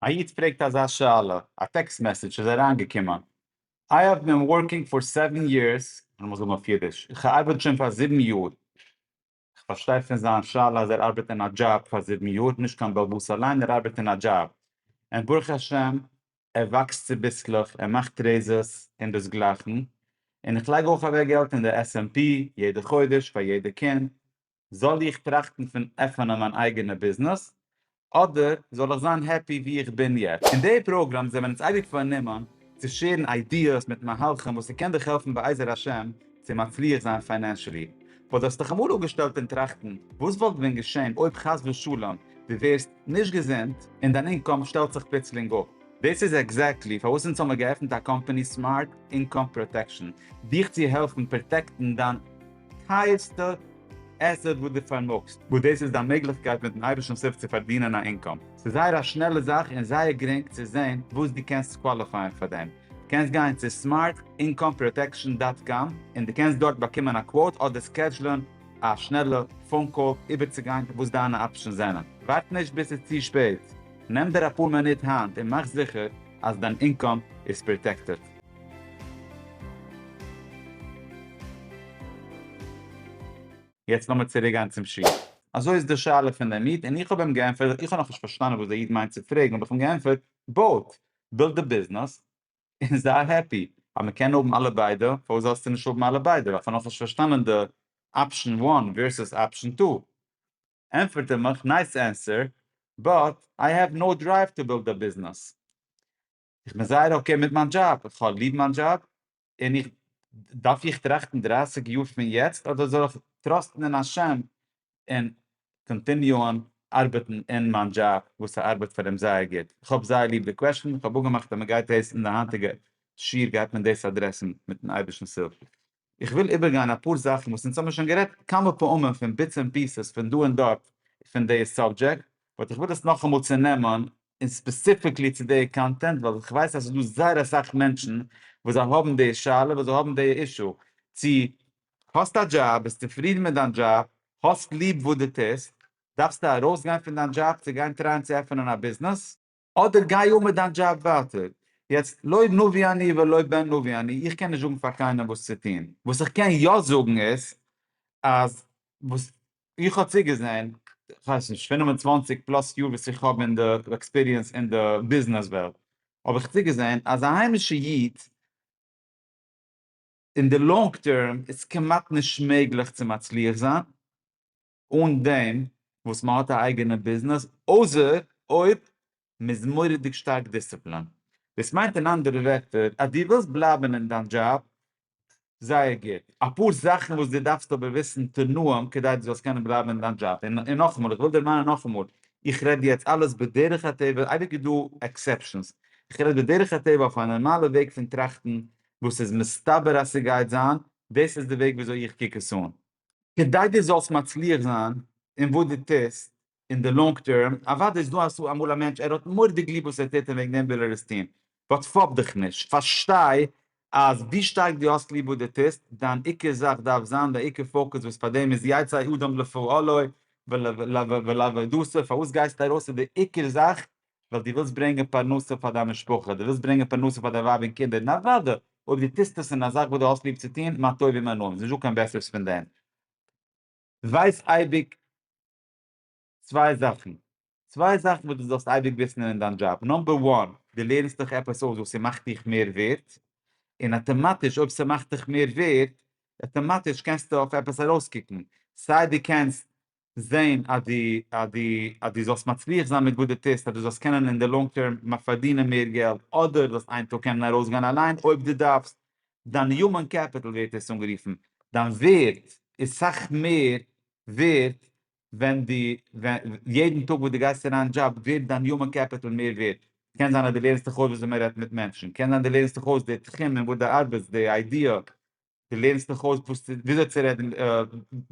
א איד פרעגט אזא שאלה, א טעקסט מעסעדזש איז אריינגעקומען, איי האב בין ווארקינג פאר סעווען יערס, איך מוז זאגן אויף אידיש, איך ארבעט שוין פאר זיבן יאר, איך פארשטיי פון זיין שאלה אז ער ארבעט אין א דזשאב פאר זיבן יאר, נישט קיין באלבאס אליין, ער ארבעט אין א דזשאב, און ברוך השם ער וואקסט צוביסלעך, ער מאכט רעיזעס און דאס גלייכן, און איך לייג אויך אוועק געלט אין די עס ענד פי יעדע חודש פאר יעדע קינד, זאל איך טראכטן פון עפענען מיין אייגענע ביזנעס אדער זאל איך זיין העפי ווי איך בין יעצט? אין די פראגראם זענען מיר אונז אייביג פארנומען צו שערן איידיעס מיט מהלכים וואס ס'קען דיך העלפן בעזר השם צו מצליח זיין פיינענשעלי. וואס האסט דיך אמאל אפגעשטעלט און טראכטן וואס וואלט ווען געשען אויב חס ושלום דו ווערסט נישט געזונט און דיין אינקאם שטעלט זיך פלוצלינג אפ? דאס איז עקזעקטלי פארוואס אונז האמיר געעפנט א קאמפאני סמארט אינקאם פראטעקשאן, דיך צו העלפן פראטעקטן דיין. טייערסטע עסעט וואס דו פארמאגסט, וואס דאס איז דיין מעגליכקייט מיט'ן אייבערשטנ'ס הילף צו פארדינען א אינקאם. ס'איז זייער א שנעלע זאך און זייער גרינג צו זען וואס דו קענסט קוואליפייען פאר דעם. דו קענסט גיין צו סמארט אינקאם פראטעקשאן דאט קאם און דו קענסט דארט באקומען א קוואוט אדער סקעדזשלען א שנעלע פאון קאל איבערצוגיין וואס דיינע אפשענס זענען. ווארט נישט ביז ס'איז צו שפעט, נעם דיר אפאר מינוט היינט און מאך זיכער אז דיין אינקאם איז פראטעקטעד. יעצט לאמיר צוריק גיין צום שול. אזוי איז די שאלה פון דעם איד, און איך האב אים געענטפערט, איך האב נאך נישט פארשטאנען וואס דער איד מיינט צו פרעגן, האב איך אים געענטפערט, בויט, בילד די ביזנעס, און זיי העפי, אז מען קען האבן אלע ביידע, פארוואס זאלסטו נישט האבן אלע ביידע, איך האב נאך נישט פארשטאנען די אפשן וואן ווערסוס אפשן טו, ענטפערט ער מיך, נייס ענסער, באט איי העוו נאו דרייוו טו בילד א ביזנעס. איך בין זייער אקעי מיט מיין דזשאב, איך האב ליב מיין דזשאב, און איך, דארף איך טראכטן דרייסיג יאר פון יעצט אדער זאל איך טראסטן אין השם און קאנטיניוען ארבעטן אין מיין דזשאב וואס איך ארבעט פאר אים זייער גוט? איך האב זייער ליב די קוועשטען, איך האב אפגעמאכט אז מען גייט דאס אין די היינטיגע שיעור גייט מען דאס אדרעסן מיטן אייבערשטנ'ס הילף. איך וויל איבערגיין אפאר זאכן וואס אונז האבן שוין גערעדט כמה פעמים פון ביטס ענד פיסעס פון דא און דארט פון די סאבדזשעקט, באט איך וויל עס נאכאמאל צונעמען און ספעסיפיקלי צו די קאנטענט ווייל איך ווייס אז עס איז דא זייער אסאך מענטשן וואס זיי האבן די שאלה וואס זיי האבן די אישו צו האסט א דזשאב ביסט צופרידן מיט דיין דזשאב האסט ליב וואס דו טוסט דארפסטו ארויסגיין פון דיין דזשאב צו גיין טרייען צו עפענען א ביזנעס. אדער גיי אן מיט דיין דזשאב ווייטער. יעצט, לא נביא אני ולא בן נביא אני, איך קען נישט זאגן פאר קיינעם וואס צו טון. וואס איך קען יא זאגן איז, אז וואס איך האב צוגעזען, כ'ווייס נישט, פֿינף און צוואַנציק פלאס יאר וואס איך האב אין די עקספיריענס אין די ביזנעס וועלט, האב איך צוגעזען אז א היימישע איד, אין די לאנג טערם איז כמעט נישט מעגליך צו מצליח זיין, אן דעם וואס מען האט א אייגענע ביזנעס, אויסער אויב מען איז מורא'דיג שטארק דיסציפלינט. דאס מיינט אין אנדערע ווערטער אז דו ווילסט בלייבן אין דיין דזשאב זייער גוט. אפאר זאכן וואס דו דארפסט אבער וויסן תנאים כדי דו זאלסט קענען בלייבן אין דיין דזשאב. און נאכאמאל, איך וויל דערמאנען נאכאמאל, איך רעד יעצט אלעס בדרך הטבע, אייביג איז דא עקסעפשאנס, איך רעד בדרך הטבע אויף א נארמאלע וועג פון טראכטן וואס איז מסתבר אז ס'גייט זיין, דאס איז די וועג וויאזוי איך קוק עס אן. כדי דו זאלסט מצליח זיין אין וואס דו טוסט אין די לאנג טערם, אוודאי איז דא אסאך אמאל א מענטש ער האט מורדיג ליב וואס ער טוט און וועגן דעם וויל ער עס טון, באט פאפ דיך נישט, פארשטיי אז ווי שטארק דו האסט ליב וואס דו טוסט, דיין עיקר זאך דארף זיין די עיקר פאוקוס וואס פאר דעם איז יצא אדם לפועלו ולעבודתו, פארוואס גייסטו ארויס איז די עיקר זאך ווייל דו ווילסט ברענגען פרנסה פאר דיין משפחה, דו ווילסט ברענגען פרנסה פאר דיין ווייב און קינדער, און אוודאי אויב דו טוסט עס אין א זאך וואס דו האסט ליב צו טון, מה טוב ומה נעים, ס'איז נישטא קיין בעסערס פון דעם. ווייס אייביג צוויי זאכן, צוויי זאכן וואס דו זאלסט אייביג וויסן אין דיין דזשאב, נאמבער וואן, דו לערנסט דיך עפעס אויס וואס ס'מאכט דיך מער ווערד, און אטאמאטיש אויב ס'מאכט דיך מער ווערד, אטאמאטיש קענסטו אויף עפעס ארויסקוקן, סיי דו קענסט זעהן אז די אז די אז די זאלסט מצליח זיין מיט וואס די טוסט אז די זאלסט קענען אין די לאנג טערם מ פארדינען מער געלט אדער זאלסט איין טאג קענען ארויסגיין אליין אויב די דארפסט דיין יומען קעפיטעל ווערט עס אנגערופן דיין ווערט איז סאך מער ווערט ווען די ווען יעדן טאג וואס די גייסט אריין דזשאב ווערט דיין יומען קעפיטעל מער ווערט קען זיין אז די לערנסט דיך אויס וויאזוי מען רעדט מיט מענטשן קען זיין די לערנסט דיך אויס די תחום אין וואס די ארבעטסט די איידיע דו לערנסט דיך אויס וואס צו וויאזוי צו רעדן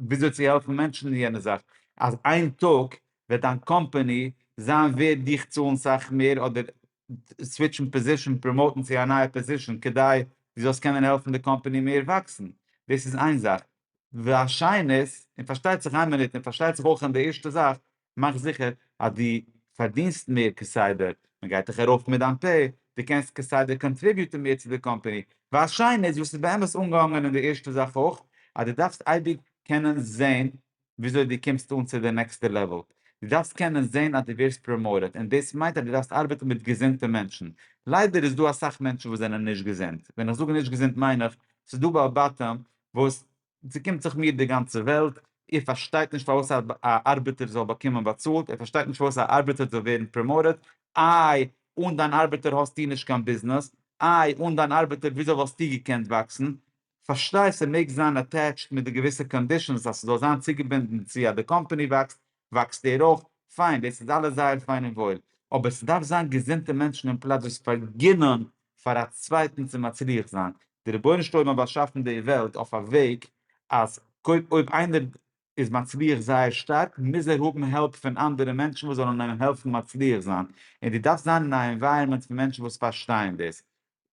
וויאזוי צו העלפן מענטשן אין יענע זאך אז איין טאג וועט דיין קאמפאני זיין ווערד דיך צאלן סאך מער אדער סוויטשן פאזישן פראמאוטן צו א נייע פאזישן כדי דו זאלסט קענען העלפן די קאמפאני מער וואקסן דאס איז איין זאך והשנית און פארשטייט זיך איין מינוט און פארשטייט זיך אויך אין די ערשטע זאך מאך זיכער אז דו פארדינסט מער כסדר, מען גייט דיך ארויף מיט דיין פעי, דו קענסט כסדר קאנטריביוטען מער צו די קאמפעני, ווייל שיין איז וואס איז באמת אנגעהאנגען אין די ערשטע זאך אויך, אז דו דארפסט אייביג קענען זען וויאזוי דו קומסט אן צו די נעקסטע לעוועל, דו דארפסט קענען זען אז דו ווערסט פראמאוטעד, און דאס מיינט אז דו דארפסט ארבעטן מיט געזונטע מענטשן, ליידער איז דא אסאך מענטשן וואס זענען נישט געזונט, ווען איך זאג נישט געזונט מיין איך, ס'איז דא בעל בתים וואס צוקומט זיך מיר די גאנצע וועלט, איר פארשטייט נישט פארוואס א ארבעטער זאל באקומען באצאלט, איר פארשטייט נישט פארוואס א ארבעטער זאל ווערן פראמאוטעד, איי, אן דיין ארבעטער האסטו נישט קיין ביזנעס, איי, אן דיין ארבעטער וויאזוי וואלסטו געקענט וואקסן? פארשטיי, ס'מעג זיין אטעטשט מיט די געוויסע קאנדישאנס אז ס'זאל זיין צוגעבינדן צו אז די קאמפאני וואקסט, וואקסט ער אויף פיין, דאס איז אלעס זייער פיין און וואויל, אבער ס'דארף זיין געזונטע מענטשן אין פלאץ וואס פארגינען פאר א צווייטן צו מצליח זיין, די רבונו של עולם האט באשאפן די וועלט אויף א וועג אז קודם אויב איינער איז מצליח זייער שטארק מוז ער האבן העלפ פון אנדערע מענטשן וואס זאלן אים העלפן מצליח זיין, און דו דארפסט זיין אין א ענווייראמענט פון מענטשן וואס פארשטייען דאס,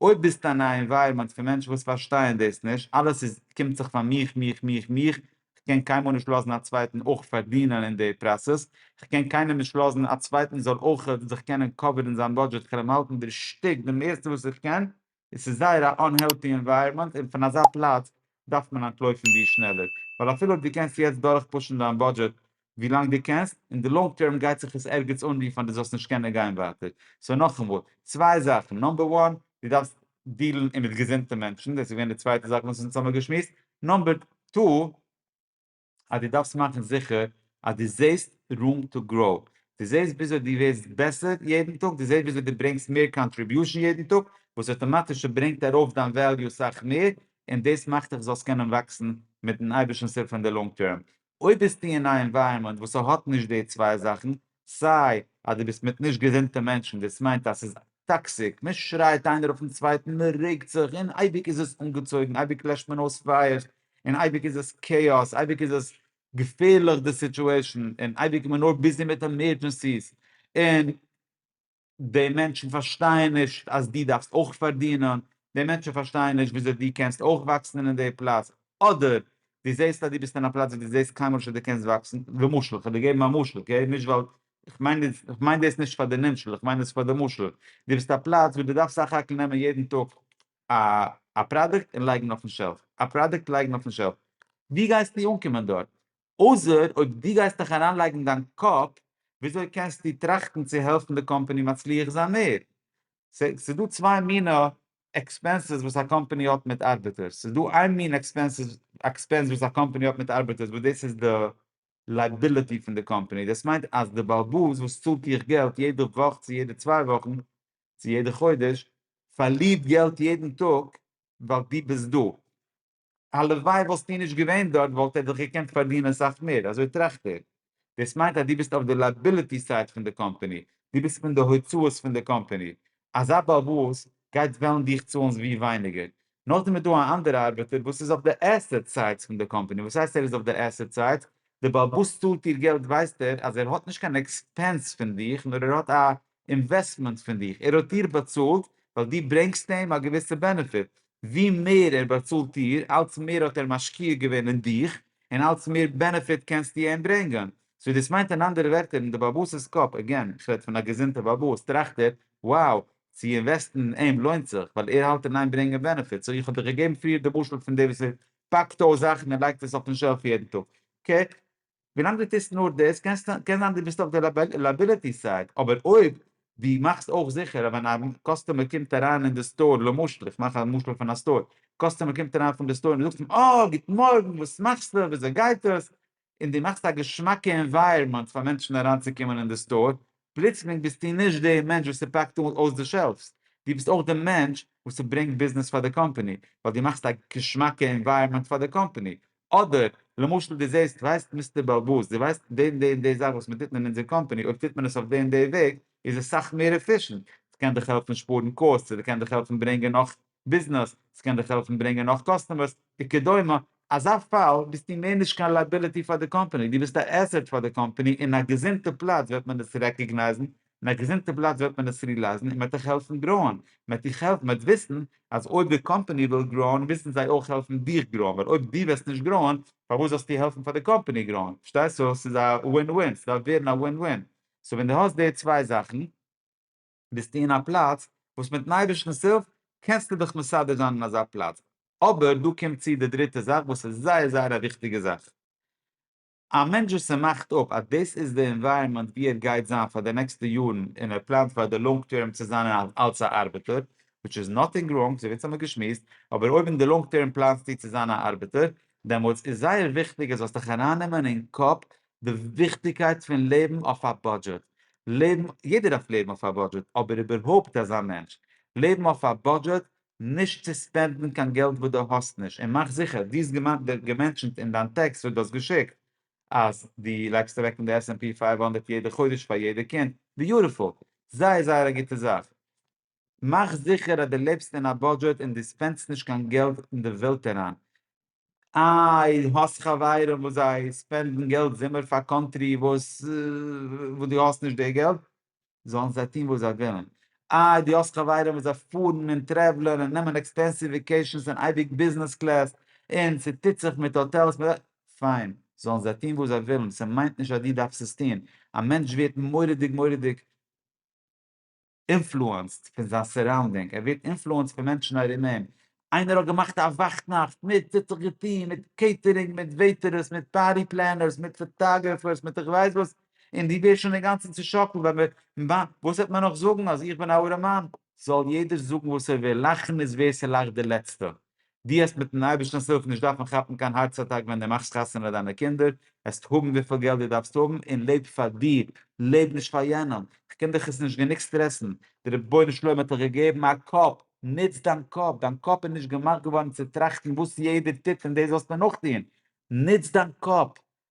אויב ביסטו אין א ענווייראמענט פון מענטשן וואס פארשטייען דאס נישט, אלעס איז קומט זיך פאר מיך מיך מיך מיך, כ'קען קיינמאל נישט לאזן א צווייטן אויך פארדינען אין די פראסעס, כ'קען קיינעם נישט לאזן א צווייטן זאל אויך זיך קענען קאווערן זיין בודזשעט, כ'על אים האלטן דער שטיק די מערסטע וואס איך קען, עס איז זייער א אנהעלטי ענווייראמענט און פון אזא פלאץ דארף מען אנטלויפן ווי שנעלער, ווייל אפילו אויב דו קענסט יעצט דורכפושן דיין בודזשעט ווי לאנג דו קענסט, אין די לאנג טערם גייט זיך עס ערגעץ אנרופן אז דו זאלסט נישט קענען גיין ווייטער, סאו נאכאמאל, צוויי זאכן, נאמבער וואן, דו דארפסט דיעלן אין מיט געזונטע מענטשן, דאס איז געווען די צווייטע זאך וואס אונז האמיר געשמועסט, נאמבער טו, אז דו דארפסט מאכן זיכער אז דו זעסט רום טו גראו, דו זעסט וויאזוי דו ווערסט בעסער יעדן טאג, דו זעסט וויאזוי דו ברענגסט מער קאנטריביושן יעדן טאג, וואס אויטאמאטיש ברענגט ארויף דיין וועליו סאך מער, און דאס מאכט דיך זאלסט קענען וואקסן מיטן אייבערשטנ'ס הילף אין די לאנג טערם. אויב ביסטו אין א ענווייראמענט וואס ס'האט נישט די צוויי זאכן, סיי אז דו ביסט מיט נישט געזונטע מענטשן, דאס מיינט אז ס'איז טאקסיק, מען שרייט איינער אויפן צווייטן, מען רעגט זיך, און אייביג איז עס אנגעצויגן, אייביג לעשט מען אויס פייערס, און אייביג איז עס כאאס, אייביג איז עס געפערליך די סיטועשאן, און אייביג איז מען נאר ביזי מיט עמערדזשענסיס, און. די מענטשן פארשטייען נישט אז דו דארפסט אויך פארדינען, די מענטשן פארשטייען נישט וויאזוי דו קענסט אויך וואקסן אין די פלאץ, אדער דו זעסט אז דו ביסט אין א פלאץ וואו דו זעסט קיינמאל נישט אז דו קענסט וואקסן, למשל, איך וועל דיר געבן א משל, אקעי, נישט ווייל, איך מיין דאס, איך מיין דאס נישט פאר די נמשל, איך מיין עס פאר די משל, דו ביסט א פלאץ וואו דו דארפסט סך הכל נעמען יעדן טאג א א פראדוקט און לייגן אויפן שעלף, א פראדוקט לייגן אויפן שעלף, ווי גייסטו אנקומען דארט? אויסער אויב דו גייסט דיך אריינלייגן דיין קאפ וויאזוי קענסטו טראכטן צו העלפן די קאמפאני מצליח זיין מער. ס'איז דא צוויי מיני עקספענסעס וואס א קאמפאני האט מיט ארבעטערס. ס'איז דא איין מין עקספענס וואס א קאמפאני האט מיט ארבעטערס וואס דאס איז די לייבילעטי פון די קאמפאני. דאס מיינט אז די באלבאס וואס צאלט דיך געלט יעדע וואך צו יעדע צוויי וואכן צו יעדע חודש פארלירט געלט יעדן טאג ווייל דו ביסט דא. הלוואי וואלסטו נישט געווען דארט וואלט ער דאך געקענט פארדינען אסאך מער, אזוי טראכט ער. דאס מיינט אז דו ביסט אויף די לייבילעטי סייד פון די קאמפעני, דו ביסט פון די הוצאות פון די קאמפעני. אזא באבוס גייט וועלן דיך צאלן ווי ווייניגער. נאכדעם איז דא א אנדערע ארבעטער וואס איז אויף די עסעט סייד פון די קאמפעני. וואס הייסט ער איז אויף די עסעט סייד? די באבוס צאלט דיר געלט ווייסט ער אז ער האט נישט קיין עקספענס פון דיך נאר ער האט א אינוועסטמענט פון דיך, ער האט דיר באצאלט ווייל דו ברענגסט אים א געוויסע בענעפיט, ווי מער ער באצאלט דיר אלץ מער האט ער משקיע געווען אין דיך און אלץ מער בענעפיט קענסטו אים ברענגען, סאו דאס מיינט אין אנדערע ווערטער אין די באבאס'ס קאפ, עגעין איך רעד פון א געזונטע באבאס, טראכט ער wow צו אינוועסטן אין אים לוינט זיך ווייל ער האלט אין איין ברענגען בענעפיט, סאו איך האב דיך געגעבן פריער די משל פון דער וואס ער פאקט אויס זאכן און לייגט עס אויפן שעלף יעדן טאג, אקעי? ווילאנג דו טוסט נאר דאס קען זיין דו ביסט אויף די לייבילעטי סייד, אבער אויב דו מאכסט אויך זיכער אז ווען א קאסטומער קומט אריין אין די סטאר, למשל, איך מאך א משל פון א סטאר, קאסטומער קומט אריין פון די סטאר און דו זאגסט אים אה גוט מארגן וואס מאכסטו וויאזוי גייט עס, און דו מאכסט א געשמאקע ענווייערמענט פאר מענטשן אריינצוקומען אין די סטאר, פלוצלינג ביסטו נישט די מענטש וואס ס'פאקט אויס די שעלפס, דו ביסט אויך די מענטש וואס ס'ברענגט ביזנעס פאר די קאמפאני, ווייל דו מאכסט א געשמאקע ענווייערמענט פאר די קאמפאני, אדער, למשל דו זעסט, ווייסט מיסטער באלבאס, דו ווייסט די און די און די זאך וואס מען טוט מען אין אונזער קאמפאני, אויב טוט מען עס אויף די און די וועג, איז עס סאך מער עפישענט, ס'קען דיך העלפן שפארן קאסט, ס'קען דיך העלפן ברענגען נאך ביזנעס, ס'קען דיך העלפן ברענגען נאך קאסטומערס, וכדומה, אזא פאל ביסטו מער נישט קיין לייבילעטי פאר די קאמפאני, דו ביסט א עסעט פאר די קאמפאני, אין א געזונטע פלאץ וועט מען עס רעקאגנייזן, אין א געזונטע פלאץ וועט מען עס רילייזן און מען וועט אייך העלפן גראוען, מען וועט דיך העלפן, מען וועט וויסן אז אויב די קאמפאני וויל גראוען מוזן זיי אויך העלפן דיך גראוען, ווייל אויב דו וועסט נישט גראוען פארוואס זאלסטו העלפן פאר די קאמפאני גראוען, פארשטייסט? סאו ס'איז א ווין ווין, ס'דארף ווערן א ווין ווין, סאו ווען דו האסט די צוויי זאכן ביסטו אין א פלאץ וואס מיטן אייבערשטנ'ס הילף קענסטו דיך מסדר זיין אין אזא פלאץ, אבער דא קומט צו די דריטע זאך וואס איז זייער זייער א וויכטיגע זאך, א מענטש וואס ער מאכט אפ אז דאס איז די ענווייראמענט וואו ער גייט זיין פאר די נעקסטע יארן און ער פלאנט פאר די לאנג טערם צו זיין אלס א ארבעטער, וויטש איז נאטינג ראנג, אזויווי אונז האמיר געשמועסט, אבער אויב אין די לאנג טערם פלאנסטו צו זיין א ארבעטער, דעמאלטס איז זייער וויכטיג אז זאלסט דיך ארייננעמען אין קאפ די וויכטיגקייט פון לעבן אויף א בודזשעט, לעבן, יעדער דארף לעבן אויף א בודזשעט, אבער איבערהויפט אזא מענטש, לעבן אויף א בודזשעט נישט צו ספענדן קיין געלט וואס דו האסט נישט, און מאך זיכער דו האסט געמענטשענט אין דיין טעקסט וואס דו האסט געשיקט אז דו לייגסט אוועק אין די עס-ענד-פי פֿינף הונדערט יעדע חודש פאר יעדע קינד, ביוטיפול! זייער זייער א גוטע זאך. מאך זיכער אז דו לעבסט אין א בודזשעט און דו ספענדסט נישט קיין געלט אין די ווילד אריין. איי האסט חברים וואס זיי ספענדן געלט זומער פאר קאנטרי וואס דו האסט נישט די געלט? זאלן זיי טון וואס זיי ווילן. איי דו האסט חברים וואס זיי פארן און טרעוולען און נעמען עקספענסיוו וואקעישאנס און אייביג ביזנעס קלעס און ס'טוט זיך מיט האטעלס מיט די. פיין, זאלן זיי טון וואס זיי ווילן, ס'מיינט נישט אז דו דארפסט עס טון. א מענטש ווערט מורא'דיג מורא'דיג אינפלוענסד פון זיין סאראונדינג, ער ווערט אינפלוענסד פון מענטשן ארום אים, איינער האט געמאכט א וואכט נאכט מיט ס'האט זיך געטוהן מיט קעיטערינג מיט וועיטערעס מיט פארטי פלענערס מיט פאטאגרעפערס מיט איך ווייס וואס און דו ווערסט שוין אינגאנצן צושאקלט ווען מ' וואן וואס וועט מען נאך זאגן אז איך בין א ארעמאן? זאל יעדער זאגן וואס ער וויל לאכן איז ווער ס'לאכט די לעצטע דו העסט מיטן אייבערשטענס הילף נישט דארפן כאפן קיין הארץ אטאק ווען דו מאכסט חתונה דיינע קינדער העסט האבן וויפיל געלט דו דארפסט האבן און לעב פאר דיר לעב נישט פאר יענעם כ'קען דיך עס נישט גענוג סטרעסן די רבונו של עולם האט דיך געגעבן א קאפ נוץ דיין קאפ, דיין קאפ איז נישט געמאכט געווארן צו טראכטן וואס יעדער טוט און דאס זאלסטו נאכטון, נוץ דיין קאפ,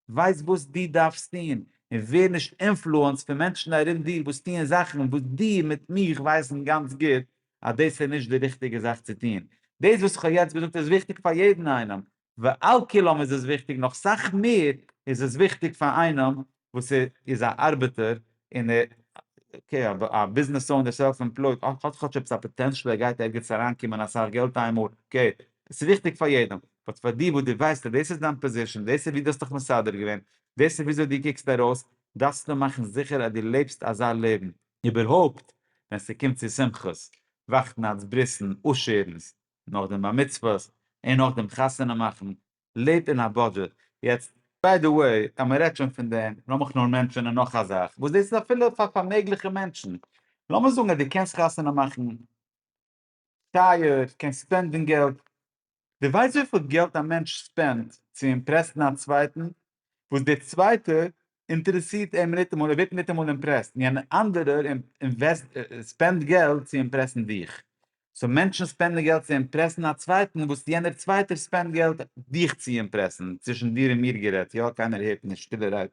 ווייס וואס דו דארפסט טון, און ווער נישט אינפלוענסד פון מענטשן ארום דיר וואס טוען זאכן וואס דו מיט מיך ווייסן גאנץ גוט אז דאס איז נישט די ריכטיגע זאך צו טון. דאס וואס איך האב יעצט געזאגט איז וויכטיג פאר יעדן איינעם, ועל כולם איז עס וויכטיג נאך סאך מער איז עס וויכטיג פאר איינעם וואס איז א ארבעטער און ער אקעי א ביזנעס אונער סעלף עמפלויט און האט כאטש עפעס א פאטענשעל ער גייט ערגעץ אריינקומען אסאך געלט איין מאל אקעי עס איז וויכטיג פאר יעדעם באט פאר דיר וואס דו ווייסט אז דאס איז דיין פאזישען דאס איז ווי דו האסט דיך מסדר געווען דאס איז וויאזוי דו קוקסט ארויס דארפסטו מאכן זיכער אז דו לעבסט אזא לעבן איבערהויפט ווען ס'קומט צו שמחות וואכטנאכטס ברית'ן עשר'נס נאך דעם בר מצוות און נאך דעם חתונה מאכן, לעב אין א בודזשעט, יעצט ביי די וועי אז מען רעדט שוין פון דעם, לאמיך נאר מענטשענען נאך א זאך וואס דאס איז אפילו פאר פארמעגליכע מענטשן, לאמיר זאגן אז דו קענסט חתונה מאכן טייער, קענסט ספענדן געלט, דו ווייסט וויפיל געלט א מענטש ספענדט צו אימפרעסן א צווייטן? וואס דער צווייטער אינטערעסירט אים ניטאמאל, ער ווערט ניטאמאל אימפרעסט, און יענער אנדערער ספענדט געלט צו אימפרעסן דיך. סאו מענטשן ספענדן געלט צו אימפרעסן א צווייטן וואס יענער צווייטער ספענדט געלט דיך צו אימפרעסן, צווישן דיר און מיר גערעדט, יא, קיינער הערט נישט, שטילערהייט,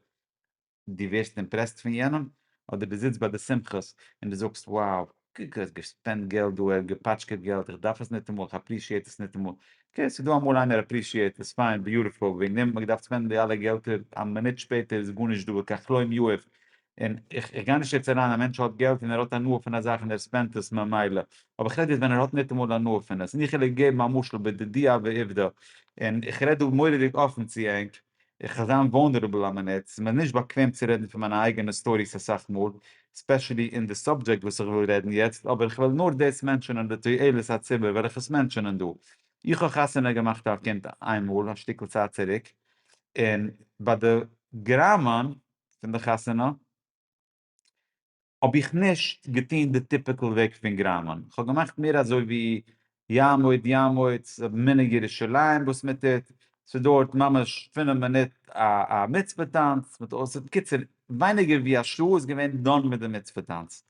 דו ווערסט אימפרעסט פון יענעם, אדער דו זיצט ביי די שמחות און דו זאגסט, wow, איך האב געספענדט געלט דא אויך געפאטשקעט געלט איך דארף עס ניטאמאל איך אפרישיעט עס ניטאמאל, אקעי ס'איז דא אמאל איינער אפרישיעט עס פיין ביוטיפול וועגן דעם האב איך געדארפט ספענדן די אלע געלטער א מינוט שפעטער איז גארנישט דא וכך לא אם יאוה און איך גיי נישט יעצט אריין א מענטש האט געלט און ער האט הנאה פון א זאך און ער ספענדט עס ממילא אבער איך רעד יעצט ווען ער האט ניטאמאל הנאה פון עס און איך העל געבן א משל בדידי הווי עובדא און איך רעד דא מורא'דיג אפן צו ענק. איך קען זיין וואלנערעבל א מינוט, ס'איז מיר נישט באקוועם צו רעדן פון מיינע אייגענע סטאריס אסאך מאל, ספעשעלי אין די סאבדזשעקט וואס איך וויל רעדן יעצט, אבער איך וועל נאר דאס מענטשענען לתועלת הציבור וועל איך עס מענטשענען דא. איך האב חתונה געמאכט א קינד איינמאל א שטיקל צייט צוריק, און ביי די גראמען פון די חתונה, האב איך נישט געטון די טיפיקעל וועג פון גראמען, איך האב געמאכט מער אזוי ווי יעמוד יעמוד, מנהג ירושלים וואס מען טוט, ס'דויערט ממש פינף מינוט א מצוה טאנץ, בקיצור ווייניגער ווי א שעה איז געווען דאן מיט די מצוה טאנץ,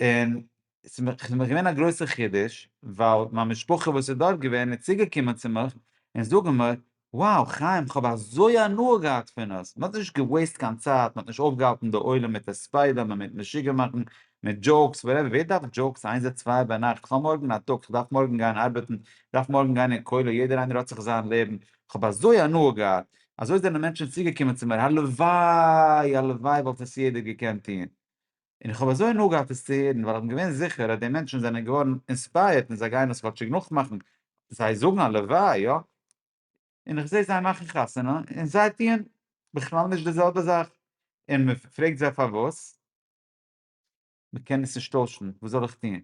און ס'איז מיר געווען א גרויסע חידוש, ווייל מיין משפחה וואס איז דארט געווען איז צוגעקומען צו מיך און זאגן מיר, wow חיים כ'האב אזוי הנאה געהאט פון עס, מ'האט נישט געוועיסט קיין צייט, מ'האט נישט אויפגעהאלטן די עולם מיט הספדים און מיט משוגע מאכן, מיט דזשאוקס, וואטעווער, ווער דארף דזשאוקס איינזע צוויי ביינאכט, כ'האב מארגן א טאג, כ'דארף מארגן גיין ארבעטן, כ'דארף מארגן גיין אין כולל, יעדער איינער האט זיך זיין לעבן, כ'האב אזוי הנאה געהאט, אזוי זענען מענטשן צוגעקומען צו מיר, הלוואי, הלוואי וואלט עס יעדער געקענט טון, און איך האב אזוי הנאה געהאט עס צו הערן, ווייל איך בין געווען זיכער אז די מענטשן זענען געווארן אינספייערט און זיי גייען עס כאטשיג נאכמאכן, זיי זאגן הלוואי, יא. און איך זעה זיי מאכן חתונה און זיי טוען בכלל נישט די זעלבע זאך, און מען פרעגט זיי פארוואס? מען קען עס נישט טוישן, וואס זאל איך טון?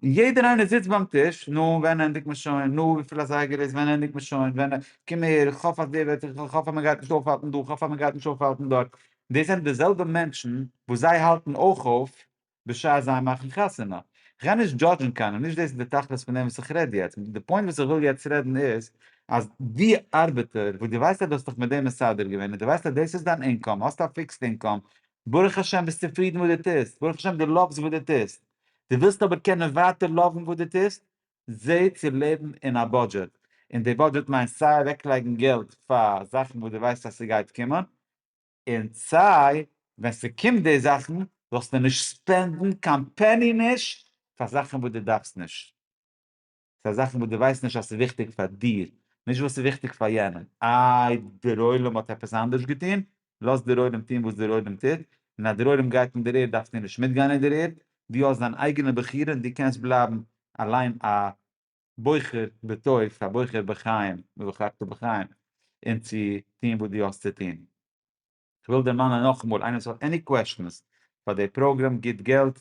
און יעדער איינער זיצט ביים טיש, נו, ווען ענדיגט מען שוין? נו, וויפיל אזייגער איז? ווען ענדיגט מען שוין? ווען? קום אהער, איך האף אז דער וועט, איך האף אז מען גייט נישט אויפהאלטן דא, איך האף אז מען גייט נישט אויפהאלטן דארט. דאס זענען די זעלבע מענטשן וואס זיי האלטן אויך אויף בשעת זיי מאכן חתונה. איך גיי נישט דזשאדזשן קיינעם, נישט דאס איז די תכלית פון דעם וואס איך רעד יעצט. די פוינט וואס איך וויל יעצט רעדן איז, אז די ארבעטער וואס דו ווייסט אז דו האסט דיך מיט דעם מסדר געווען, און דו ווייסט אז דאס איז דיין אינקאם, האסט א פיקסד אינקאם, ברוך השם ביסט צופרידן וואס דו טוסט, ברוך השם דו לאווס וואס דו טוסט, דו ווילסט אבער קענען ווייטער לאוון וואס דו טוסט, זע צו לעבן אין א בודזשעט, און די בודזשעט מיינט סיי אוועקלייגן געלט פאר זאכן וואס דו ווייסט אז ס'גייט קומען, און סיי ווען ס'קומט די זאכן זאלסטו נישט ספענדן קיין פעני נישט פאר זאכן וואס דו דארפסט נישט. ס'איז א זאכן וואס דו ווייסט נישט אז ס'איז וויכטיג פאר דיר, נישט וואס ס'איז וויכטיג פאר יענעם. איי דערוילעם האט עפעס אנדערש געטון? לאז דערוילעם טון וואס דערוילעם טוט, און אז דערוילעם גייט אין דער ערד דארפסטו נישט מיטגיין אין דער ערד, דו האסט דיין אייגענע בחירה און דו קענסט בלייבן אליין א בוחר בטוב, א בוחר בחיים, ובחרת בחיים, און צו טון וואס דו האסט צו טון. כ'וויל דערמאנען נאכאמאל, איינער וואס האט עני קוועשטענס פאר די פראגרעם גיט געלט,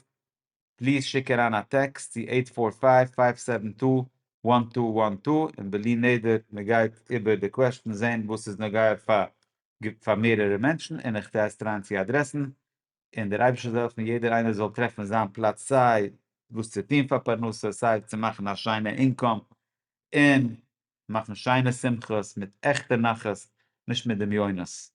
פליז שיק אריין א טעקסט צו עיט פאר פייוו פייוו סעווען טו וואן טו וואן טו און בלי נדר מ'גייט איבער די קוועשטענס זעהן וואס איז נוגע פאר פאר מערערע מענטשן און איך טרייסט אריין צו אדרעסן און דער אייבערשטער זאל העלפן יעדער איינער זאל טרעפן זיין פלאץ סיי וואס צו טוהן פאר פרנסה סיי צו מאכן א שיינע אינקאם און מאכן שיינע שמחות מיט עכטע נחת נישט מיט דמיונות.